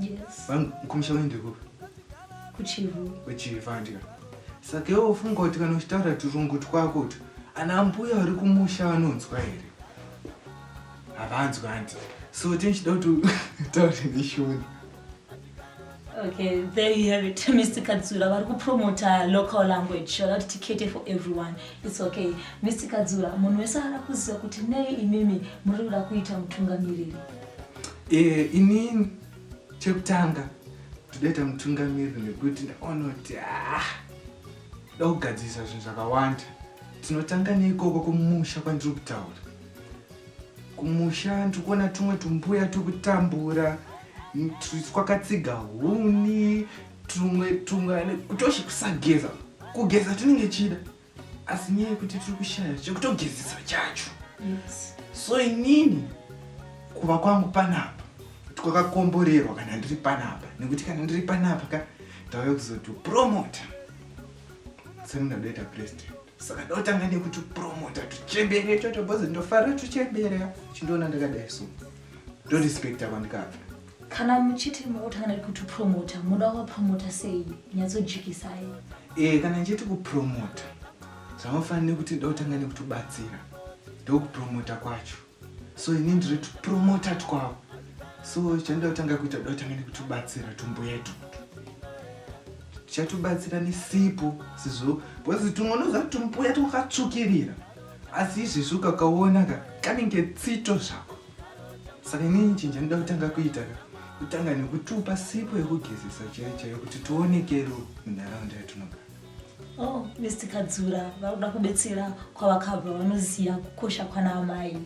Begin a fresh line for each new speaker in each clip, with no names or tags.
Yes.
Vangu kumusha kwani ndiri
kupi? Kuchivu.
Kuchivu andika.
Saka iwe ufunga kuti kana uchitaura turungu twako utu ana ambuya vari kumusha vanonzwa here? Havanzwi hanti. So tinchida kuti utaure neshoni.
Okay, there you have it. Mr. Kadzura vari kupromota local language vada kuti tikete for everyone. It's okay. Mr. Kadzura, munhu wese ara kuziva kuti nei imimi muri kuda kuita mutungamiriri. Eh,
inini chekutanga todaita mutungamiri nekuti ndaona kuti ah, da kugadzirisa zvinhu zvakawanda tinotanga neikoko kumusha kwandiri kutaura kumusha ndiri kuona tumwe tumbuya turi kutambura twakatsiga huni tumwe tumwe kutoshe kusageza kugeza tinenge chida asi nyaya yekuti tiri kushaya chekutogezesa chacho
so inini
kuva kwangu panapa kwakakomborerwa kana ndiri panapa nekuti kana ndiri panapa ka ndauya kuzotopromota semundadoita president saka ndotanga nekuti promota tuchembere choto bhozi ndofara tuchembere chindoona ndakadai so ndorespekta kwandikabva kana muchiti
makutanga nekuti promota muda kuvapromota sei nyatsojikisai e eh, kana ndichiti
kupromota zvamafanira nekuti nda kutanga nekutobatsira ndokupromota kwacho so ini ndiri tupromota twavo so chanda kutanga kuita da kutanga nekutobatsira tumbuya tutu tichatobatsira nesipo sizvo bcause tumwe unoziva kuti tumbuya twakatsvukirira asi izvezvi ukakaona ka kanenge tsito zvako saka inini chinhu chandida kutanga kuita ka kutanga nekutupa sipo yekugezesa chaiyo chaiyo kuti tionekero munharaunda yatinogara oh
mr kadzura vakuda kubetsera kwavakabva vanoziva kukosha kwana amai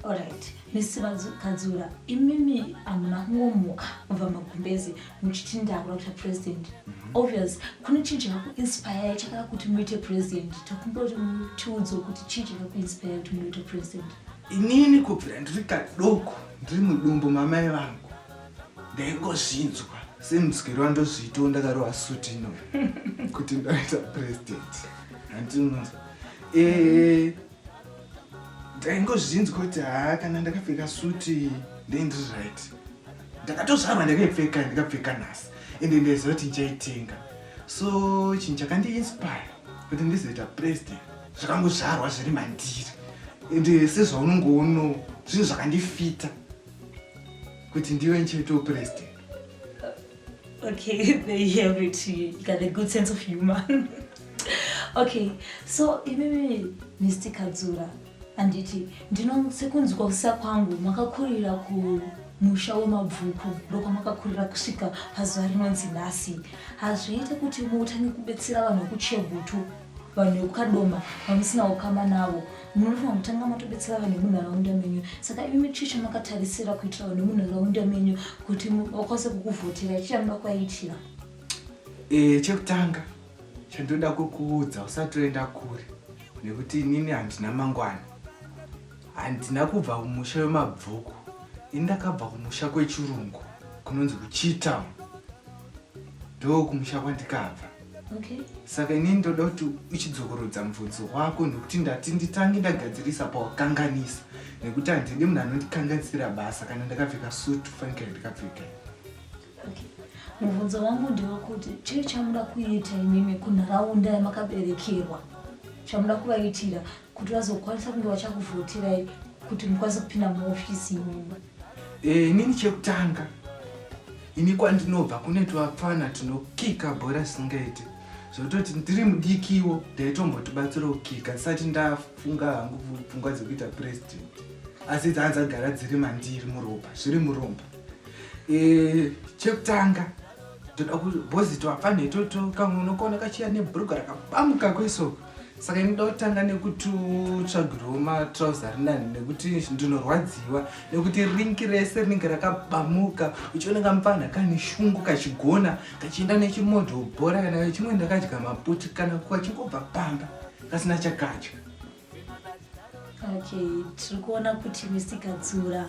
orit misi vakadzura imimi hamuna kungomuka mubva magumbezi muchiti ndakuda kuita president mhm. obvious kune chii chakakuinspire chakada kuti muite president tokumboti tiudzo kuti chii chakakuinspire kuti munoita president mm -hmm. Inini kubvira
ndiri kadoko ndiri mudumbu mamai vangu ndaingozvinzwa semudzikiro wandozviitawo ndakarova suti ino kuti ndaita president handinonzwa eh, ndaingozvinzwa kuti haa kana ndakapfeka suti ndaindiri right ndakatozvarwa ndakaipfeka ndikapfeka nhasi ende ndaiziva kuti ndichaitenga so chinhu chakandiinspire kuti ndizoita president zvakangozvarwa zviri mandiri ende eh, sezvaunongoono zvinhu zvakandifita kuti ndive nchito president
okay they have it you got a good sense of humor okay so imimi mr kadzura handiti ndino sekunzwa kusa kwangu makakurira ku musha wemabvuku ndokwamakakurira kusvika pazuva rinonzi nhasi hazviite kuti mutange kubetsera vanhu vekuchegutu vanhu vekukadoma vamusina ukama navo munofanira kutanga matobetsera vanhu vemunharaunda menyu saka imi chii chamakatarisira kuitira vanhu vemunharaunda menyu kuti vakwanise kukuvhotera chii chamuda kuvaitira e,
chekutanga chandoda kukuudza usati oenda kure nekuti inini handina mangwana handina kubva kumusha wemabvuku ini ndakabva kumusha kwechirungu kunonzi kuchitown ndo kumusha kwandikabva okay.
saka ini ndoda
kuti uchidzokorudza mvudzi wako nekuti ndati nditange ndagadzirisa pawakanganisa nekuti handidi munhu anondikanganisira basa kana ndakapfeka sutu fanikira ndikapfeka
mubvunzo wangu ndewakuti chii chamuda kuita imimi kunharaunda yamakaberekerwa chamuda kuvaitira kuti vazokwanisa kunge vachakuvhotirai kuti mukwanise kupinda muofisi imimi Eh, inini
chekutanga ini kwandinobva kune twapfana tinokika bhora singaite zvekutoti ndiri mudikiwo ndaitombotibatsira kukika tisati ndafunga hangu pfungwa dzekuita president asi dzaa dzagara dziri mandiri muropa zviri muromba eh, chekutanga toda kubhozi twapfanhe toto kamwe unokona kachiya nebhuruga rakabamuka kweso saka inoda kutanga nekututsvagirwo matrauser rinani nekuti ndinorwadziwa nekuti rinki rese rinenge rakabamuka uchiona kamupfanha kane shungu kachigona kachienda nechimodho bhora kana kachimwe ndakadya maputi kana kachingobva pamba kasina chakadya
okay tiri kuona kuti mr kadzura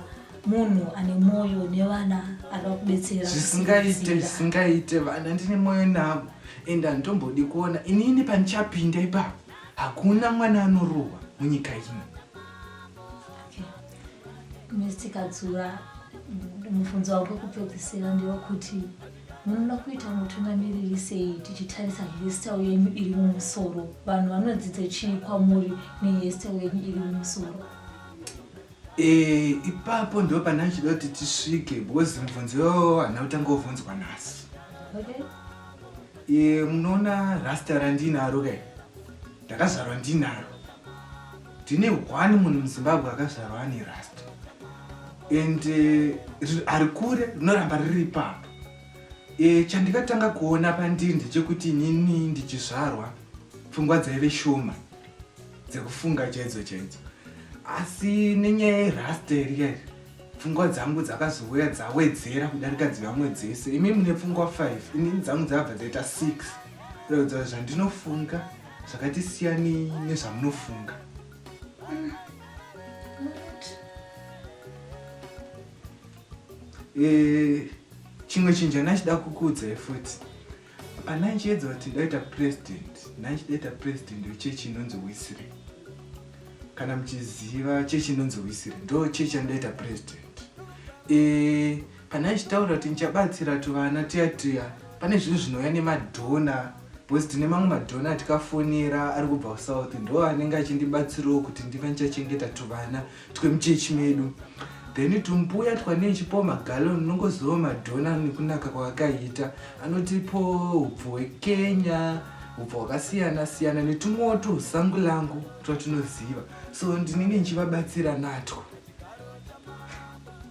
munhu ane mwoyo nevana akakubetsera zvisingaite zvisingaite
vana ndine mwoyo navo ende handitombodi kuona inini pandichapinda ipapo hakuna mwana anorohwa munyika ino
mr kadzura mubvunzo wako kupedzisira ndewekuti munoda kuita mutungamiriri sei tichitarisa hestel yenyu iri mumusoro vanhu vanodzidza chii kwamuri nehestel yenyu iri mumusoro e,
ipapo ndo pane achida kuti tisvike because mubvunzo yoo hana kutanga wovhunzwa nhasi okay. e,
munoona rasta
randinaro ke ndakazvarwa ndinaro tine one munhu muzimbabwe akazvarwa ane rust and uh, ari kure rinoramba riri ipapo e, chandikatanga kuona pandiri ndechekuti inini ndichizvarwa pfungwa dzaive shoma dzekufunga chaidzo chaidzo asi nenyaya yerasta iri kairi pfungwa dzangu dzakazouya dzawedzera kudarika dzivamwe dzese imi mune pfungwa 5 inini dzangu dzabva dzaita 6 kuratidza zvandinofunga Saka tisiyanei nezvamunofunga. Eh, chimwe chinhu chandachida kukuudzai futi pana ndichiedza kuti ndaita president ndandichidaita president wechechi inonzi wisire kana muchiziva chechi inonzi wisire ndo chechi yandaita president e, kana achitaura kuti ndichabatsira tuvana tuya tuya pane zvinhu zvinouya nemadhona because tine mamwe madhona atikafonera ari kubva kusouth ndo anenge achindibatsirawo kuti ndive ndichachengeta tuvana twemuchechi medu then tumbuya twanechipo magalo ndinongozivawo madhona nekunaka kwakakaita anotipo upfu hwekenya upfu hwakasiyana siyana netumwewo tusangu langu twatinoziva so ndinenge ndichivabatsira natwo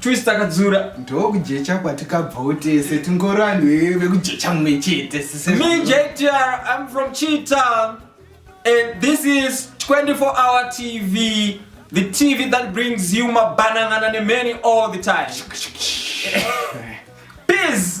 twist akadzura ndokujecha
kwatikabvawo tese tingori vanhu vekujecha mumwe chete me jtr
im from cheetown and this is 24 hour tv the tv that brings you mabanangana nemany all the time peace